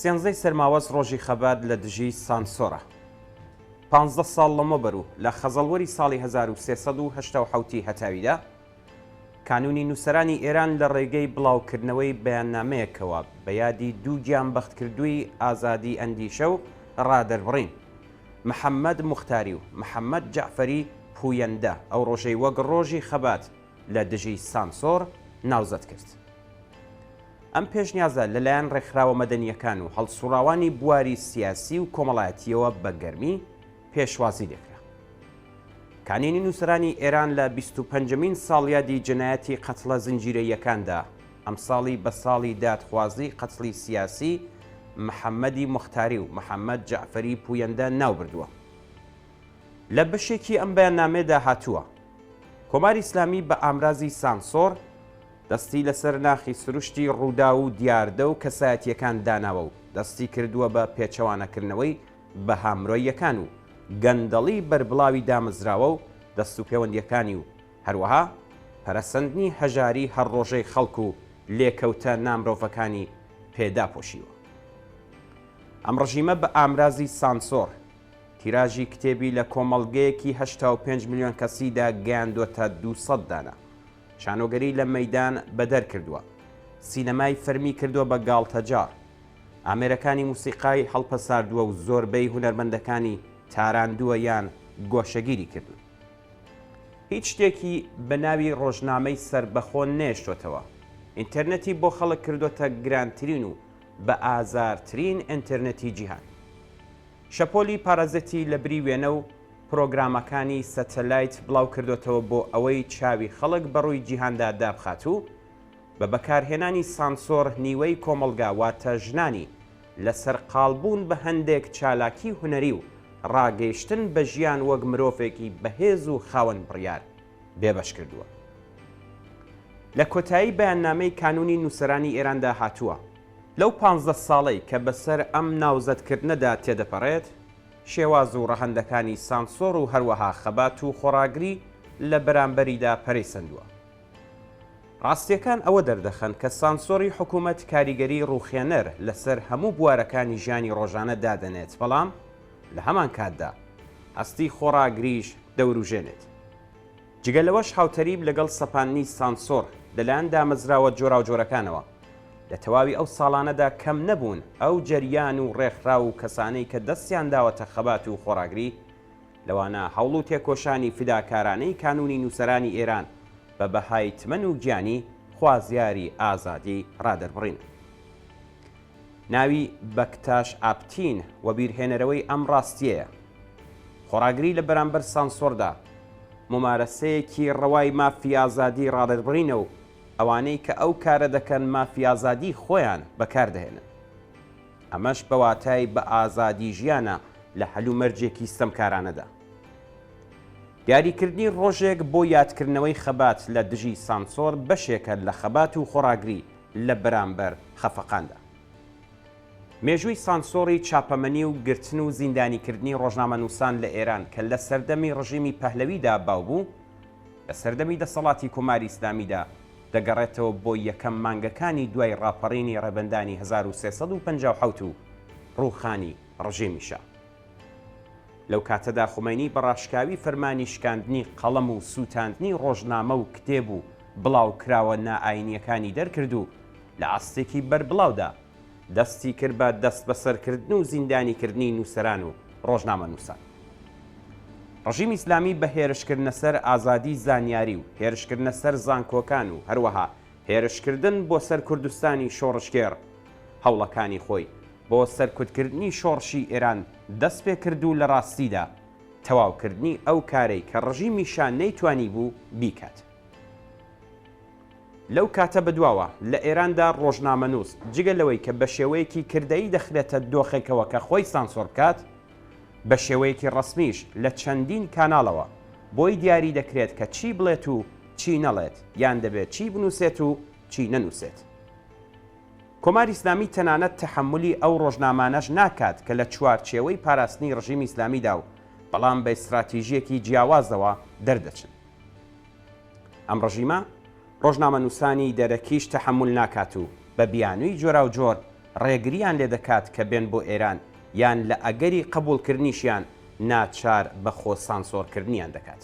سێنزەی سەرماوەز ڕۆژی خەبات لە دژی سانسۆرە. پانزدە ساڵ لەمەوبەرو لە خەزەڵوەری ساڵی هەزار و سێ سەد و هەشتا و حەوتی هەتاویدا، کانوونی نووسەرانی ئێران لە ڕێگەی بڵاوکردنەوەی بەیاننامەیەکەوە بە یادی دوو گیانبەختکردووی ئازادی ئەندیشە و ڕادەربڕین، محەمەد موختاری و محەمەد جەعفەری پوویەندە، ئەو ڕۆژەی وەک ڕۆژی خەبات، لە دژی سانسۆڕ ناوزەد کرد. ئەم پێشنیازە لەلایەن ڕێکخراوە مەدەنییەکان و هەڵسوڕاوانی بواری سیاسی و کۆمەڵایەتیەوە بە گەرمی پێشوازی لێکرا. کانینی نووسرانی ئێران لە بیست و پەنجەمین ساڵیادی جەنایەتی قەتڵە زنجیرەییەکاندا ئەمساڵی بە ساڵی دادخوازی قەتڵی سیاسی محەممەدی موختاری و محەممەد جەعفەری پوویەندە ناو بردووە. لە بەشێکی ئەم بەیاننامەیەدا هاتووە، کۆماری ئیسلامی بە ئامرازی سانسۆڕ دەستی لەسەر ناخی سروشتی ڕووداو و دیاردە و کەسایەتییەکان داناوە و دەستی کردووە بە پێچەوانەکردنەوەی بەها مرۆییەکان و گەندەڵی بەربڵاوی دامەزراوە و دەستوپێوەندییەکانی و هەروەها پەرەسەندنی هەژاری هەر ڕۆژەی خەڵک و لێکەوتە نامرۆڤەکانی پێ داپۆشیوە. ئەم ڕژیمە بە ئامرازی سانسۆڕ، تیراژی کتێبی لە کۆمەڵگەیەکی هەشتا و پێنج ملیۆن کەسیدا گەیاندووەتە دوو سەد دانە. شانۆگەری لە مەیدان بەدەر کردووە. سینەمای فەرمی کردووە بە گاڵتەجاڕ. ئامێرەکانی موسیقای هەڵپەساردووە و زۆربەی هونەرمەندەکانی تاراندووە یان گۆشەگیری کردوون. هیچ شتێکی بە ناوی ڕۆژنامەی سەربەخۆ نەهێشتۆتەوە. ئینتەرنێتی بۆ خەڵک کردۆتە گرانترین و بە ئازارترین ئینتەرنێتی جیهان. شەپۆلی پارازیتی لە بری وێنە و پرۆگرامەکانی سەتەلایت بڵاوکردۆتەوە بۆ ئەوەی چاوی خەڵک بە ڕووی جیهاندا دابخات و بە بەکارهێنانی سانسۆر نیوەی کۆمەڵگا واتە ژنانی لە سەرقاڵبوون بە هەندێک چالاکی هونەری و ڕاگەیشتن بە ژیان وەک مرۆڤێکی بەهێز و خاوەن بڕیار بێبەش کردووە. لە کۆتایی بەیاننامەی کانوونی نووسەرانی ئێراندا هاتووە، لەو پانزدە ساڵەی کە بەسەر ئەم ناوزەدکردنەدا تێدەپەڕێت، شێواز و ڕەهەندەکانی سانسۆر و هەروەها خەبات و خۆڕاگری لە بەرامبەریدا پەرەی سەندووە. ڕاستییەکان ئەوە دەردەخەن کە سانسۆری حکوومەت کاریگەریی ڕووخێنەر لەسەر هەموو بوارەکانی ژیانی ڕۆژانە دادەنێت بەڵام لە هەمانکاتدا هەستی خۆڕاگریش دەوروژێنێت. جگە لەوەش هاوتەریب لەگەڵ سەپاندنی سانسۆڕ لەلایەن دامەزراوە جۆراوجۆرەکانەوە لە تەواوی ئەو ساڵانەدا کەم نەبوون ئەو جەریان و ڕێکخراو و کەسانەی کە دەستیان داوەتە خەبات و خۆڕاگری لەوانە هەوڵ و تێکۆشانی فیداکارانەی کانوونی نووسەرانی ئێران بە بەهای تمەن و گیانی خوازیاری ئازادی ڕادەربڕین. ناوی بەکتاش ئاپتین وەبیرهێنەرەوەی ئەم ڕاستییەیە. خۆڕاگری لە بەرامبەر سانسۆردا، مومارەسەیەکی ڕەوای مافی ئازادی ڕادەربڕینە و ئەوانەی کە ئەو کارە دەکەن مافی ئازادی خۆیان بەکار دەهێنن. ئەمەش بە واتای بە ئازادی ژیانە لە هەلومەرجێکی ستەمکارانەدا. دیاریکردنی ڕۆژێک بۆ یادکردنەوەی خەبات لە دژی سانسۆر بەشێکە لە خەبات و خۆڕاگری لە بەرامبەر خەفەقاندا. مێژووی سانسۆڕی چاپەمەنی و گرتن و زیندانیکردنی ڕۆژنامەنووسان لە ئێران کە لە سەردەمی ڕژیمی پەهلەویدا باو بوو، لە سەردەمی دەسەڵاتی کۆماری ئیسلامیدا دەگەڕێتەوە بۆ یەکەم مانگەکانی دوای ڕاپەڕینی ڕێبەندانی هەزار و سێ سەد و پەنجا و حەوت و ڕووخانی ڕژێمی شا. لەو کاتەدا خومەینی بە ڕاشکاوی فەرمانی شکاندنی قەڵەم و سووتاندنی ڕۆژنامە و کتێب و بڵاوکراوە نائاینییەکانی دەرکرد و لە ئاستێکی بەربڵاودا دەستی کرد بە دەستبەسەرکردن و زیندانیکردنی نووسەران و ڕۆژنامەنووسان. ڕژیمی ئیسلامی بە هێرشکردنە سەر ئازادی زانیاری و هێرشکردنە سەر زانکۆکان و هەروەها هێرشکردن بۆ سەر کوردستانی شۆڕشگێڕ هەوڵەکانی خۆی بۆ سەرکوتکردنی شۆڕشی ئێران دەست پێ کرد و لە ڕاستیدا تەواوکردنی ئەو کارەی کە ڕژیمی شا نەیتوانیبوو بیکات. لەو کاتە بە دواوە لە ئێراندا ڕۆژنامەنووس جگە لەوەی کە بە شێوەیەکی کردەیی دەخرێتە دۆخێکەوە کە خۆی سانسۆر بکات، بە شێوەیەکی ڕەسمیش لە چەندین کاناڵەوە بۆی دیاری دەکرێت کە چی بڵێت و چی نەڵێت یان دەبێت چی بنووسێت و چی نەنووسێت. کۆماری ئیسلامی تەنانەت تەحەمولی ئەو ڕۆژنامانەش ناکات کە لە چوارچێوەی پاراستنی ڕژیمی ئیسلامیدا و بەڵام بە ئیستراتیژییەکی جیاوازەوە دەردەچن. ئەم ڕژیمە ڕۆژنامەنووسانی دەرەکیش تەحەمول ناکات و بە بیانووی جۆراوجۆر ڕێگرییان لێ دەکات کە بێن بۆ ئێران یان لە ئەگەری قەبووڵکردنیشیان ناچار بە خۆ سانسۆرکردنیان دەکات.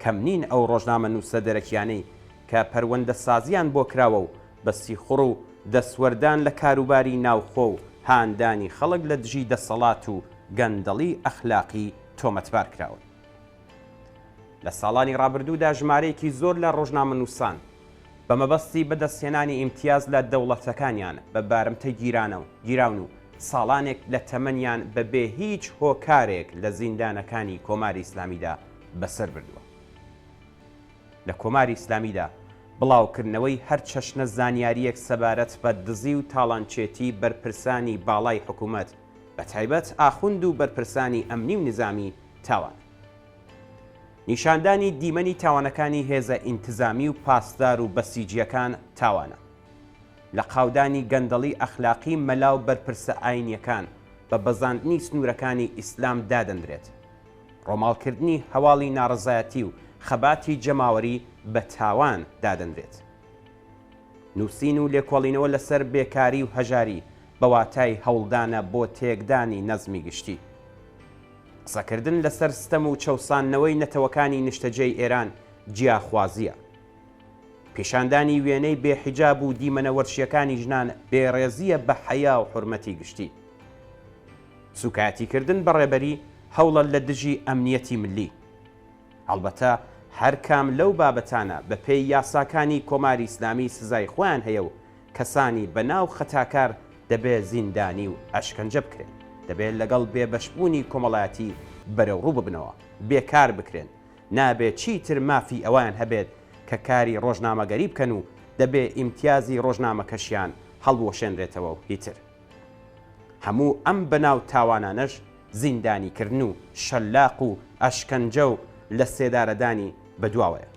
کەم نین ئەو ڕۆژنامەنووسە دەرەکییانەی کە پەروەندەسازییان بۆ کراوە و بە سیخوڕ و دەستوەردان لە کاروباری ناوخۆ و هاندانی خەڵک لە دژی دەسەڵات و گەندەڵی ئەخلاقی تۆمەتبار کراون. لە ساڵانی ڕابردوودا ژمارەیەکی زۆر لە ڕۆژنامەنووسان، بە مەبەستی بەدەستهێنانی ئیمتیاز لە دەوڵەتەکانیان بە بارمتە گیرانەو گیراون و ساڵانێک لە تەمەنیان بە بێ هیچ هۆکارێک لە زیندانەکانی کۆماری ئیسلامیدا بەسەر بردووە. لە کۆماری ئیسلامیدا بڵاوکردنەوەی هەر چەشنە زانیارییەک سەبارەت بە دزی و تاڵانچێتی بەرپرسانی باڵای حکوومەت بە تایبەت ئاخوند و بەرپرسانی ئەمنی و نیزامی تاوانە. نیشاندانی دیمەنی تاوانەکانی هێزە ئینتزامی و پاسدار و بەسیجیەکان تاوانە. لە قاودانی گەندەڵی ئەخلاقی مەلا و بەرپرسە ئاینیەکان بە بەزاندنی سنورەکانی ئیسلام دادەندرێت. ڕۆماڵکردنی هەواڵی ناڕەزایەتی و خەباتی جەماوەری بە تاوان دادەندرێت. نوسین و لێکۆڵینەوە لەسەر بێکاری و هەژاری بە واتای هەوڵدانە بۆ تێکدانی نەزمی گشتی. قسەکردن لەسەر ستەم و چەوساندنەوەی نەتەوەکانی نیشتەجێی ئێران جیاخوازییە. پیشاندانی وێنەی بێ حیجاب و دیمەنە وەرشییەکانی ژنان بێڕێزییە بە حەیا و حورمەتی گشتی. سووکایەتیکردن بە ڕێبەری، هەوڵە لە دژی ئەمنییەتی ملی. هەڵبەتە هەر کام لەو بابەتانە بە پێی یاساکانی کۆماری ئیسلامی سزای خۆیان هەیە و کەسانی بە ناو خەتاکار دەبێ زیندانی و ئەشکەنجە بکرێن، دەبێ لەگەڵ بێ بەش بوونی کۆمەڵایەتی بەرەو ڕوو ببنەوە، بێ کار بکرێن، نابێ چیتر مافی ئەوەیان هەبێت کە کاری ڕۆژنامەگەری بکەن و دەبێ ئیمتیازی ڕۆژنامەکەشیان هەڵبوەشێنرێتەوە و هیتر. هەموو ئەم بەناو تاوانانەش زیندانیکردن و شەلاق و ئەشکەنجە و لە سێدارەدانی بە دواوەیە.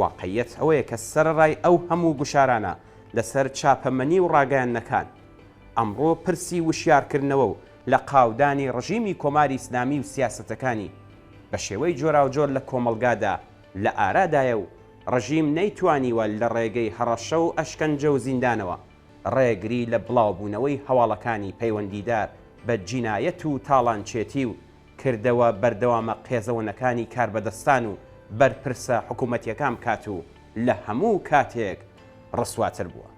واقعیەت ئەوەیە کە سەرەڕای ئەو هەموو گوشارانە لە سەر چاپەمەنی و ڕاگەیاندنەکان، ئەمڕۆ پرسی وشیارکردنەوە و لە قاودانی ڕژیمی کۆماری ئیسلامی و سیاسەتەکانی بە شێوەی جۆراوجۆر لە کۆمەڵگادا لە ئارادایە و ڕژیم نەیتوانیوە لە ڕێگەی هەڕەشە و ئەشکەنجە و زیندانەوە ڕێگری لە بڵاوبوونەوەی هەواڵەکانی پەیوەندیدار بە جینایەت و تاڵانچێتی و کردەوە بەردەوامە قێزەوەنەکانی کاربەدەستان و بەرپرسە حکوومەتییەکان بکات و لە هەموو کاتێک ڕسواتر بووە.